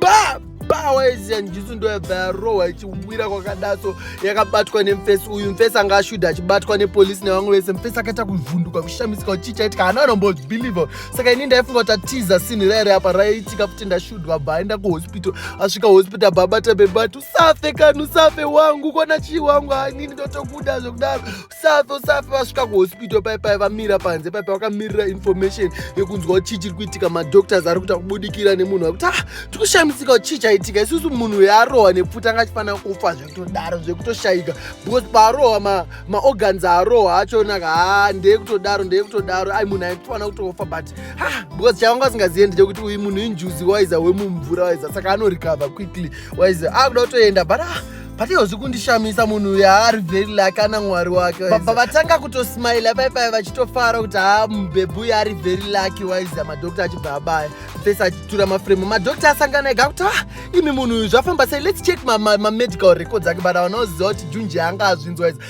ba power yezian jusu ndo yabva yarohwa ichiwira kwakadaso yakabatwa nemfesi uyu mfesi anga ashuda achibatwa nepolisi nevamwe vese mfesi akaita kuvhunduka kushamisika kuti chii chaitika hana anombobelieve saka ini ndaifunga kuti atiza sinhi rairi apa raiitika futi ndashudwa bva aenda kuhospital asvika hospital bva abata bebati usafe kani usafe wangu kona chii wangu hanini ndotokuda zvekudaro safe usafe vasvika kuhospital pai pai vamira panze pai pai vakamirira information yekunzwa kuti chii chiri kuitika madoctors ari kuita kubudikira nemunhu akuti ah tikushamisika kuti chii chaitika isusu munhu yaarohwa nepfuta anga achifanira kufa zvekutodaro zvekutoshaika because paarohwa maorgans ma aarohwa achonaka ha ah, ndeye kutodaro ndeye kutodaro ai munhu aitofanira kutofa but ha ah, because chavanga asingazive ndechekuti uyu munhu injuzi waiza wemumvura waiza saka anorecover quickly waiza akuda ah, kutoenda but ah Patino zvikundishamisa munhu uyu haari very lucky ana mwari wake. Baba vatanga kutosmile pai pai vachitofara kuti ha mubhebhi uyu ari very lucky waiza madoctor achibva abaya. Face achitura maframe. Madoctor asangana ega kuti ah imi munhu uyu zvafamba sei let's check ma, ma, ma medical records ake but havana kuziva kuti Junji anga azvinzwa izi.